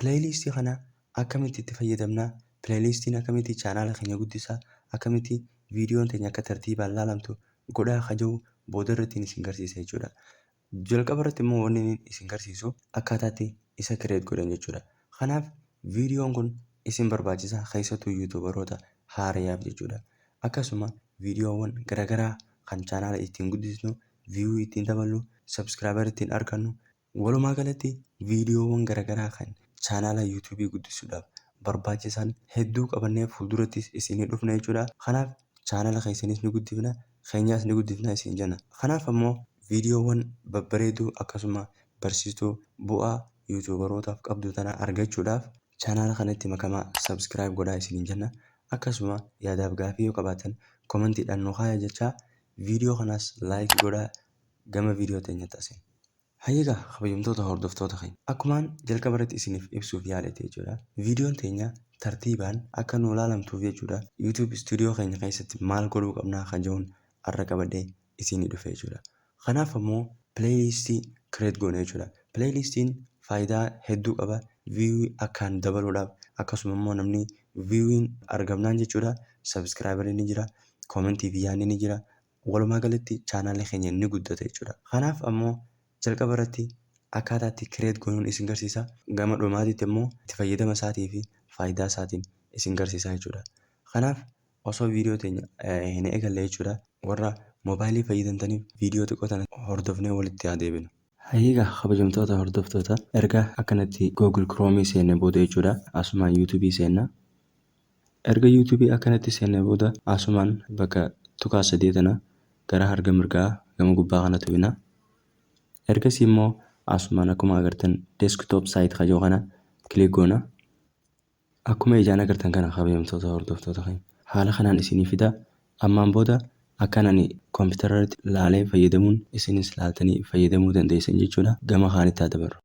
Playlist kana akkamitti itti fayyadamna? Playlistiin akkamitti chaanaala keenya guddisa? Akkamitti viidiyoon teenya akka tartiibaan laalamtu godhaa ka jiru booda irratti isin garsiisa jechuudha. Jalqaba irratti immoo wanni inni isin garsiisu akkaataatti isa create godhan jechuudha. Kanaaf viidiyoon kun isin barbaachisa keessattuu yuutuubaroota haarayaaf jechuudha. Akkasuma viidiyoowwan garaagaraa kan chaanaala ittiin guddisnu, view ittiin daballu, subscriber ittiin argannu Walumaa galatti viidiyoowwan garagaraa kan chaanaala yuutuubii guddisuudhaaf barbaachisan hedduu qabannee fuuldurattis isinii dhufna jechuudha. Kanaaf chaanaala keessanis ni guddifna, keenyaas ni guddifna isin jenna. Kanaaf ammoo viidiyoowwan babbareedoo akkasuma barsiistuu bu'aa yuutuubarootaaf qabdu tana argachuudhaaf chaanaala kanatti makamaa subscribe godhaa isiniin jenna. Akkasuma yaadaaf gaaffii yoo qabaattan commentiidhaan nu kaayaa jechaa viidiyoo kanaas like godhaa gama video teenyatti asin. Hayyee egaa kabajamtoota hordoftoota keenya akkumaan jalqaba irratti isiniif ibsuuf yaaletti jechuudha videon teenya tartiibaan akka nuu laalamtuuf jechuudha YouTube studio keenya keessatti maal godhuu qabnaa kan jedhuun arra qabadhee isiinii dhufe jechuudha. Kanaaf ammoo playlist create goona jechuudha. Playlistiin faayidaa hedduu qaba view akkaan dabaluudhaaf akkasuma immoo namni viewin argamnaan jechuudha subscriber ni jira comment fi yaadni ni jira Walumaa galatti channel keenya ni guddata jechuudha. Kanaaf ammoo jalqaba irratti akkaataa itti create gonuun isin garsiisa. Gama dhumaatitti ammoo itti fayyadama isaatii fi faayidaa isaatiin isin garsiisa jechuudha. Kanaaf osoo video teenya hin eegalle jechuudha. Warra mobile fayyadamtaniif video xiqqoo tana hordofnee walitti haa deebinu. Hayyee egaa kabajamtoota hordoftoota erga akkanatti Google Chrome seenne booda jechuudha asumaan YouTube seenna. Erga YouTube akkanatti seennee booda asumaan bakka tuqaa sadee tana gara harga mirgaa gama gubbaa kana tuqina. Ergasii immoo asumaan akkuma agartan desktop site ka jiru kana click goona. Akkuma ijaan agartan kana kabajamtoota hordoftoota keenya. Haala kanaan isinii fida. Ammaan booda akkan ani kompiitara irratti laalee fayyadamuun isinis laaltanii fayyadamuu dandeessan jechuudha. Gama kaanitti haa dabarru.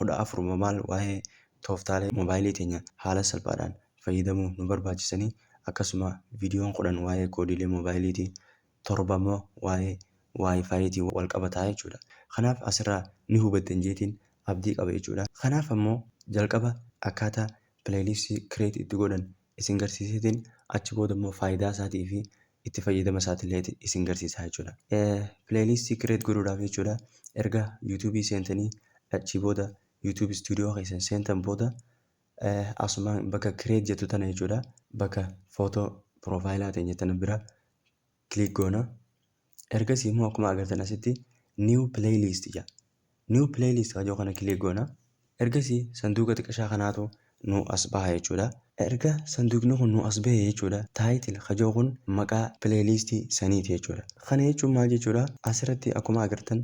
14 mobile waa'ee tooftaalee mobaayilii keenya haala salphaadhaan fayyadamuu nu barbaachisanii akkasuma viidiyoon 10 waa'ee koodiilee mobaayiliitii 7 immoo waa'ee waayifaayiitii wal qabataa jechuudha kanaaf asirraa ni hubattan jeetiin abdii qaba jechuudha kanaaf ammoo jalqaba akkaataa pileeylistii kireet itti godhan isin garsiiseetiin achi booda immoo faayidaa isaatii fi itti fayyadama isaatiillee isin garsiisaa jechuudha. Playlist create godhuudhaaf jechuudha. Erga YouTube seentanii achii booda YouTube studio keessan seentan booda asuma bakka create jettu tana jechuudha. Bakka footoo profaayilaa teenya tana bira click goona. Ergasii immoo akkuma agartan asitti new playlist jedha. New playlist kan jedhu kana click goona. Ergasii sanduuqa xiqqashaa kanaatu nu as baha jechuudha. Erga sanduuqni kun nu as bahe jechuudha title kan jedhu kun maqaa playlist saniiti jechuudha. Kana jechuun maal jechuudha asirratti akkuma agartan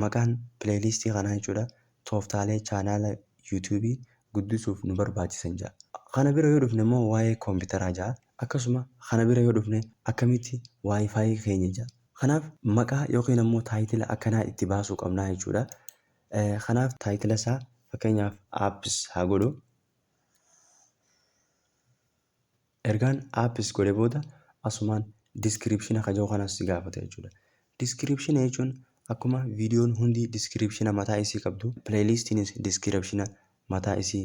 maqaan playlist kanaa jechuudha tooftaalee chaanaala YouTube guddisuuf nu barbaachisan jedha. Kana bira yoo dhufne immoo waa'ee kompiitaraa jedha. Akkasuma kana bira yoo dhufne akkamitti WiFi keenya ja. Kanaaf maqaa yookiin ammoo taayitila akkanaa itti baasuu qabnaa jechuudha. Kanaaf taayitila isaa fakkeenyaaf apps haa godhu. Ergaan apps godhe booda asumaan description ka jiru kanas si gaafata jechuudha. Description jechuun akkuma viidiyoon hundi description mataa isii qabdu playlistiinis description mataa isii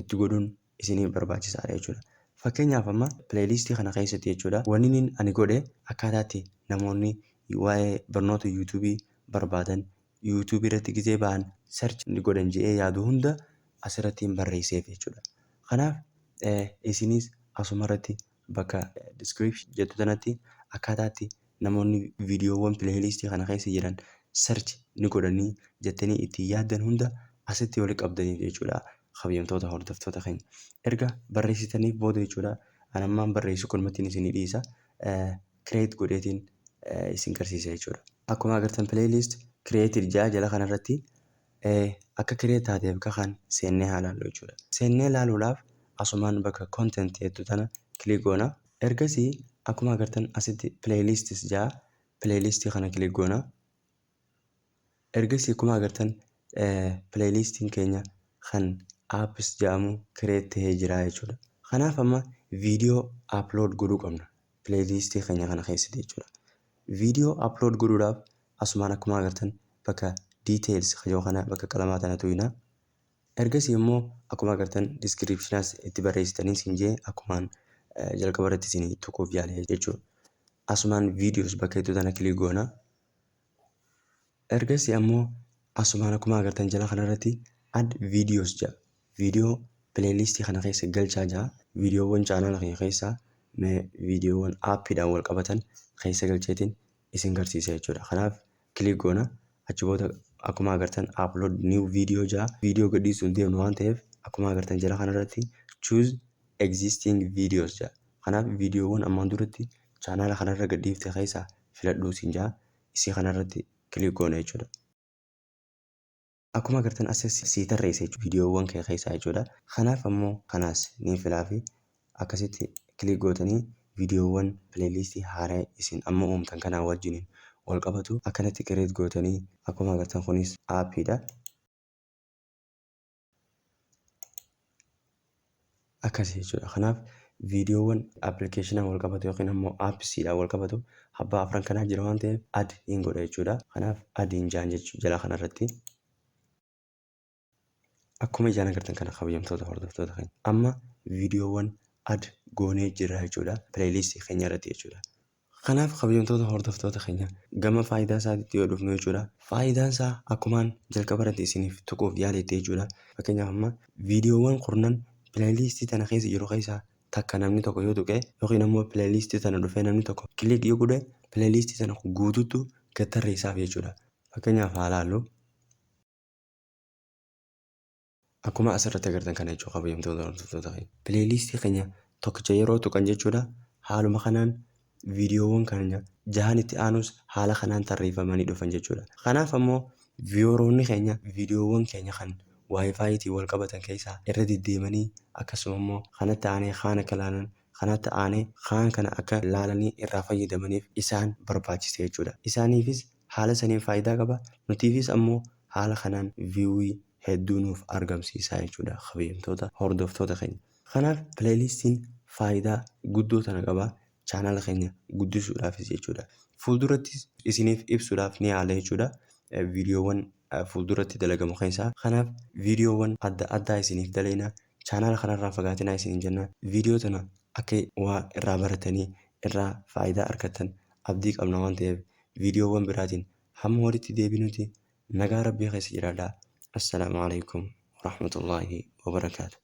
itti godhun isinif barbaachisaadha jechuudha. Fakkeenyaaf amma playlist kana keessatti jechuudha waninin ani godhe akkaataa itti namoonni waa'ee barnoota YouTube barbaadan YouTube irratti gizee ba'an search godhan je'ee yaadu hunda asirrattiin barreesseef jechuudha. Kanaaf isinis asumarratti Bakka description jettu tanatti akkaataa itti namoonni viidiyoowwan playlist kana keessa jiran search ni godhanii jettanii itti yaaddan hunda asitti walitti qabdaniif jechuudha kabajamtoota hordoftoota keenya. Erga barreessitaniif booda jechuudha an ammaan barreessu kanumattiin isinii dhiisa create godheetiin isin garsiisa jechuudha. Akkuma agartan playlist created ja'a jala kanarratti Ee akka kiree taateef ga kan seennee haa laallu jechuudha. Seennee laaluudhaaf asumaan bakka content jettu tana click goona. Ergasii akkuma agartan asitti playlists ja'a playlist kana click goona. Ergasii akkuma agartan playlistiin keenya kan apps ja'amu create tahee jira jechuudha. Kanaaf amma video upload godhuu qabna playlistii keenya kana keessatti jechuudha. Video upload godhuudhaaf Asumaan akkumaa agartan bakka details ka je'u kana bakka qalamaa tana tuyna. Ergasii immoo akkuma agartan descriptionas itti barreessitanii siin je'e akkumaan jalqaba irratti siin tuquuf yaale jechuudha. Asumaan videos bakka jettu tana click goona. Ergasii ammoo asumaan akkuma agartan jala kana irratti add videos ja'a. Video playlist kana keessa galchaa ja'a. Videowwan chaanaala kiyya keessaa mee videowwan aappiidhaan wal qabatan keessa galcheetiin isin garsiisa jechuudha kanaaf click goona achi booda akkuma agartan upload new video jaa video gadhiisuun deemnu waan ta'eef akkuma agartan jala kanarratti choose existing videos jaa kanaaf viidiyoowwan ammaan duratti chaanaala kanarra gadhiifte keessaa filadhuu siin jaa isii kanarratti click goona jechuudha Akkuma agartan asirratti sii tarreessa jechuudha viidiyoowwan kee keessaa jechuudha. Kanaaf ammoo kanaas ni filaafi akkasitti kilik gootanii viidiyoowwan pileeliistii haaraa isin amma uumtan kanaa wajjiniin wal qabatu akkanatti kireet gootanii akkuma agartan kunis aappiidha. Akkasi jechuudha. Kanaaf viidiyoowwan application wal qabatu yookiin ammo apps dhaan wal qabatu abbaa afran kanaa jira waan ta'eef add in godha jechuudha. Kanaaf add in jaan jechuu jalaa kana irratti. Akkuma ijaan agartan kana kabajamtoota hordoftoota keenya. Amma viidiyoowwan add goonee jirra jechuudha. Playlist keenya irratti jechuudha. Kanaaf kabajamtoota hordoftoota keenya gama faayidaa isaatitti yoo dhufnu jechuudha. Faayidaan isaa akkumaan jalqaba irratti isiniif tuquuf yaaletti jechuudha. Fakkeenyaaf amma viidiyoowwan kurnan pileeliistii tana keessa jiru keessaa takka namni tokko yoo tuqe yookiin ammoo pileeliistii tana dhufee namni tokko kiliik yoo godhe pileeliistii tana guutuutu gad tarreessaaf jechuudha. Fakkeenyaaf haa laallu. Akkuma as irratti agartan kana jechuudha kabajamtoota hordoftoota keenya. Pileeyliistii keenya tokkicha yeroo tuqan jechuudha haaluma kanaan viidiyoowwan keenya jahan itti aanus haala kanaan tarreeffamanii dhufan jechuudha. Kanaaf ammoo viiyooroonni keenya viidiyoowwan keenya kan waayifaayiitiin wal qabatan keessaa irra deddeemanii akkasuma immoo kanatti aanee kaan akka laalan kanatti aanee kaan kana akka laalanii irraa fayyadamaniif isaan barbaachisa jechuudha. Isaaniifis Haala saniin faaydaa qaba. Nutiifis ammoo haala kanaan viewii hedduu nuuf argamsiisaa jechuudha kabajamtoota hordoftoota keenya. Kanaaf playlistiin faaydaa guddoo tana qaba channel keenya guddisuudhaafis jechuudha. Fuuldurattis isiniif ibsuudhaaf ni yaala jechuudha videowwan fuulduratti dalagamu keessaa. Kanaaf videowwan adda addaa isiniif dalayna. Channel kanarraa fagaatinaa isiniin jenna. Video tana akka waa irraa baratanii irraa faaydaa argattan abdii qabna waan ta'eef viidiyoowwan biraatiin hamma walitti deebinuti nagaa rabbii keessa jiraadhaa. Assalaamu aleykum warahmatullaahi wabarakaatu.